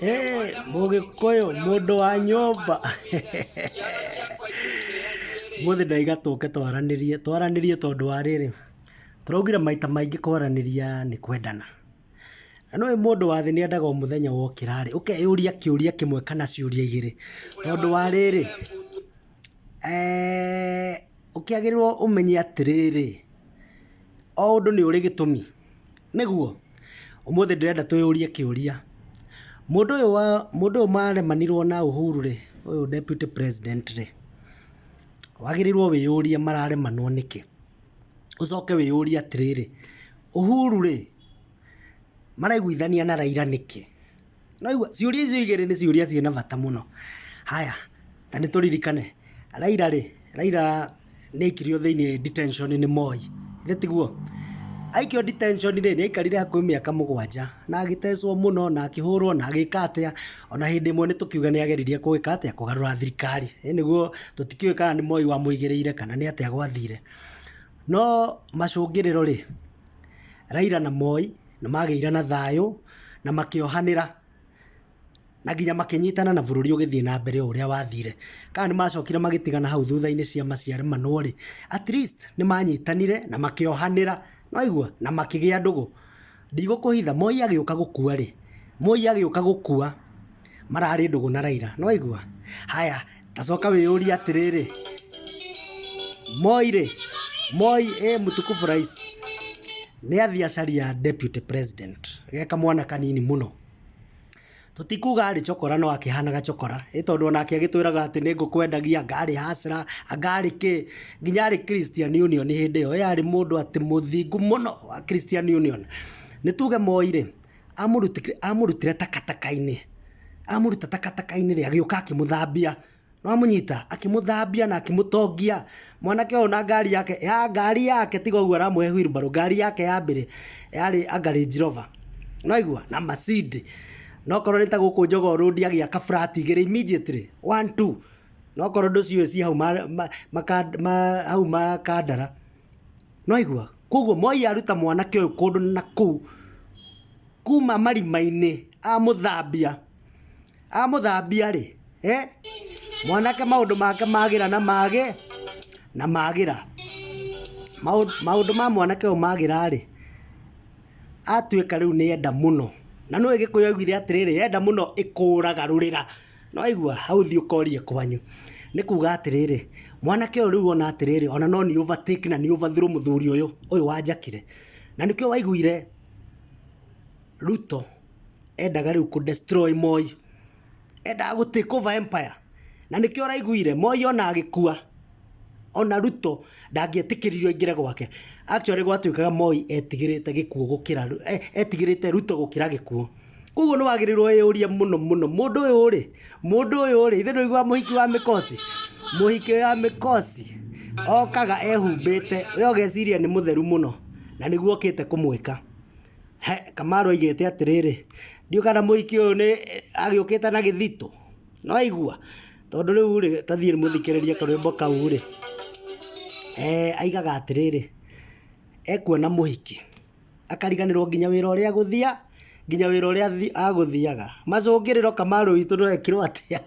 Eh, mũgĩkũyũ mũndũ wa nyũmba mũthĩ ndaiga tũke twaranĩrie twaranĩrie tondũ wa rĩrĩ tũraugire maita maingĩ kwaranĩria nĩ kwendana na nĩũĩ mũndũ wa thĩ nĩendaga o mũthenya wokĩra rĩ ũkeyũria kĩũria kĩmwe kana ciũria igĩrĩ tondũ wa rĩrĩ eh, ũkĩagĩrĩrwo ũmenye atĩrĩrĩ o ũndũ nĩ ũrĩ gĩtũmi Nĩguo? Ũmũthĩ ndĩrenda twĩyũrie kĩũria, mũndũ ũyũ wa, mũndũ ũyũ maremanirwo na Uhuru rĩ, ũyũ deputy president rĩ, wagĩrĩirwo wĩyũrie mararemanwo nĩkĩ? Ũcoke wĩyũrie atĩrĩrĩ, Uhuru rĩ, maraiguithania na Raila nĩkĩ? Nĩwaigua? Ciũria icio igĩrĩ nĩ ciũria ciĩna bata mũno. Haya, na nĩ tũririkane, Raila rĩ, Raila nĩ aikirio thĩinĩ detention nĩ Moi, githĩ tiguo? Aikio detention rĩ, nĩ aikarire hakuhĩ mĩaka mũgwanja, na agĩtecwo mũno, na akĩhũrwo, na agĩka atĩa, o na hĩndĩ ĩmwe nĩ tũkiuga nĩ ageririe kũgĩka atĩa, kũgarũra thirikari. Ĩ nĩguo? Tũtikĩũĩ kana nĩ Moi wamũigĩrĩire kana nĩ atĩa gwathire. No macũngĩrĩro rĩ, Raila na Moi nĩ magĩire na thayũ na makĩohanĩra na nginya makĩnyitana na bũrũri ũgĩthiĩ na mbere o ũrĩa wathire. Kana nĩ macokire magĩtigana hau thutha-inĩ ciama ciaremanwo rĩ, at least nĩ manyitanire na makĩohanĩra, nĩ waigua, na makĩgĩa ndũgũ. Ndigũkũhitha, Moi agĩũka gũkua rĩ, Moi agĩũka gũkua mararĩ ndũgũ na Raila, nĩ waigua? Haya, Tacoka wĩyũrie atĩrĩrĩ, Moi rĩ, Moi ĩ mtukufu rais nĩ athiĩ acaria deputy president ge kamwana kanini mũno, tũtikuga arĩ cokora no akĩhana gacokora, ĩ tondũ onake agĩtwĩraga atĩ nĩ ngũkwendagia, anga arĩ hustler, anga arĩ kĩ, nginya arĩ Christian Union hĩndĩ ĩyo, ĩ arĩ mũndũ atĩ mũthingu mũno wa Christian Union. Nĩ tuge Moi rĩ, Amũrutire, amũrutire takataka-inĩ, amũruta takataka-inĩ rĩ, agĩũka akĩmũthambia. Nĩwamũnyita? Akĩmũthambia na akĩmũtongia. Mwanake ũyũ na ngari yake, ya ngari yake tiga ũguo aramũhe wheelbarrow, ngari yake ya mbere yarĩ anga Range Rover. Nĩwaigua? Na macindi. Na okorwo nĩ ta gũkũ Jogoo Road agĩaka flat igĩrĩ immediately, one two. Na okorwo ndũciũĩ ciĩ hau hau Makandara. Nĩwaigua? Kuoguo Moi aruta mwanake ũyũ kũndũ na kũu, kuma marima-inĩ amũthambia, amũthambia-rĩ, mwanake maũndũ make magĩra na magĩ, na magĩra. Maũndũ ma mwanake ũyũ magĩra-rĩ, atuĩka rĩu nĩenda mũno. Na nĩũĩ Gĩkũyũ augire atĩrĩrĩ, enda mũno ĩkũũragarũrĩra. Nĩwaigua? Hau thiĩ ũkorie kwanyu. Nĩ kuuga atĩrĩrĩ, mwanake ũyũ rĩu ona atĩrĩrĩ, ona no nĩ overtake na nĩ overthrow mũthuri ũyũ, ũyũ wanjakire. Na nĩkĩo waiguire Ruto endaga rĩu kũ destroy Moi. Endaga gũ take over empire. Na nĩkĩo ũraiguire Moi ona agĩkua. Ona Ruto ndangĩetĩkĩririo aingĩre gwake. Actually gwatuĩkaga Moi etigĩrĩte gĩkuũ gũkĩra, etigĩrĩte Ruto gũkĩra gĩkuũ. Koguo nĩ wagĩrĩirwo wĩyũrie mũno mũno, mũndũ ũyũ rĩ, mũndũ ũyũ rĩ, ithe ndũiguaga mũhiki wa mĩkosi? Mũhiki wa mĩkosi okaga ehumbĩte, we ũgeciria nĩ mũtheru mũno, na nĩguo okĩte kũmwĩka. He, Kamau oigĩte atĩrĩrĩ, ndiũĩ kana mũhiki ũyũ nĩ, agĩũkĩte na gĩthitũ? nĩwaigua tondũ rĩu rĩ ta thiĩ mũthikĩrĩrie karwĩmbo kau rĩ, aigaga atĩrĩrĩ, ekuona mũhiki akariganĩrwo nginya wĩra ũrĩa agũthia nginya wĩra ũrĩa agũthiaga, macũngĩrĩro Kamaru witũ nĩwekirwo atĩa?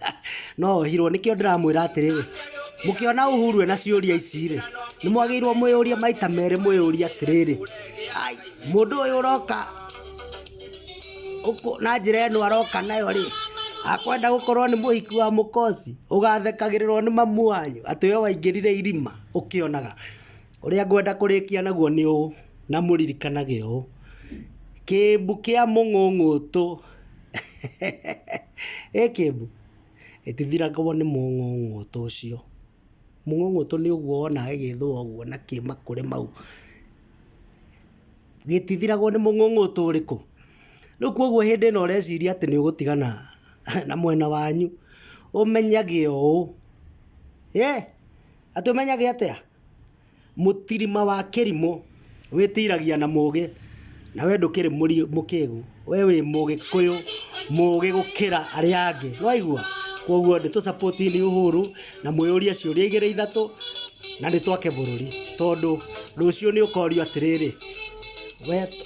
no ohirwo nĩkĩo ndĩramwĩra atĩrĩrĩ, mũkĩona Uhuru ena ciũria ici rĩ, nĩmwagĩrĩirwo mwĩyũrie maita merĩ mwĩyũrie atĩrĩrĩ, mũndũ ũyũ ũroka ũkũ- na njĩra ĩno aroka nayo rĩ akwenda gũkorwo nĩ mũhiki wa mũkosi ũgathekagĩrĩrwo nĩ mamu wanyu atĩ we waingĩrire irima ũkĩonaga ũrĩa ngwenda kũrĩkia naguo nĩ ũũ na mũririkanage ũũ kĩmbu kĩa mũng'ũng'ũtũ ĩ kĩmbu ĩtithiragwo nĩ mũng'ũng'ũtũ ũcio Mũng'ũng'ũtũ nĩ ũguo wonaga gĩgĩthũa ũguo na kĩ makũrĩ mau. Gĩtithiragwo nĩ mũng'ũng'ũtũ ũrĩkũ? Rĩu kwoguo hĩndĩ ĩno ũreciria atĩ nĩũgũtigana na mwena wanyu, ũmenyage ũũ, ĩ, atĩ ũmenyage atĩa? Mũtirima wa kĩrimũ wĩtiragia na mũgĩ na we ndũkĩrĩ mũkĩgu we wĩ mũgĩkũyũ mũgĩ gũkĩra arĩa angĩ nĩwaigua kwoguo nĩ tũ support ni Uhuru na mwĩyũrie ciũria igĩrĩ ithatũ na nĩ twake bũrũri tondũ rũciũ nĩ ũkorio atĩrĩrĩ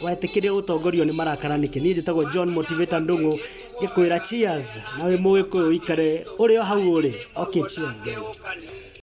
wetĩkĩrio gũtongorio nĩ marakara nĩkĩ niĩ njĩtagwo John Motivator Ndung'u ngĩkwĩra cheers na wĩ mũgĩkũyũ ũikare ũrĩ o hau ũrĩ okay cheers.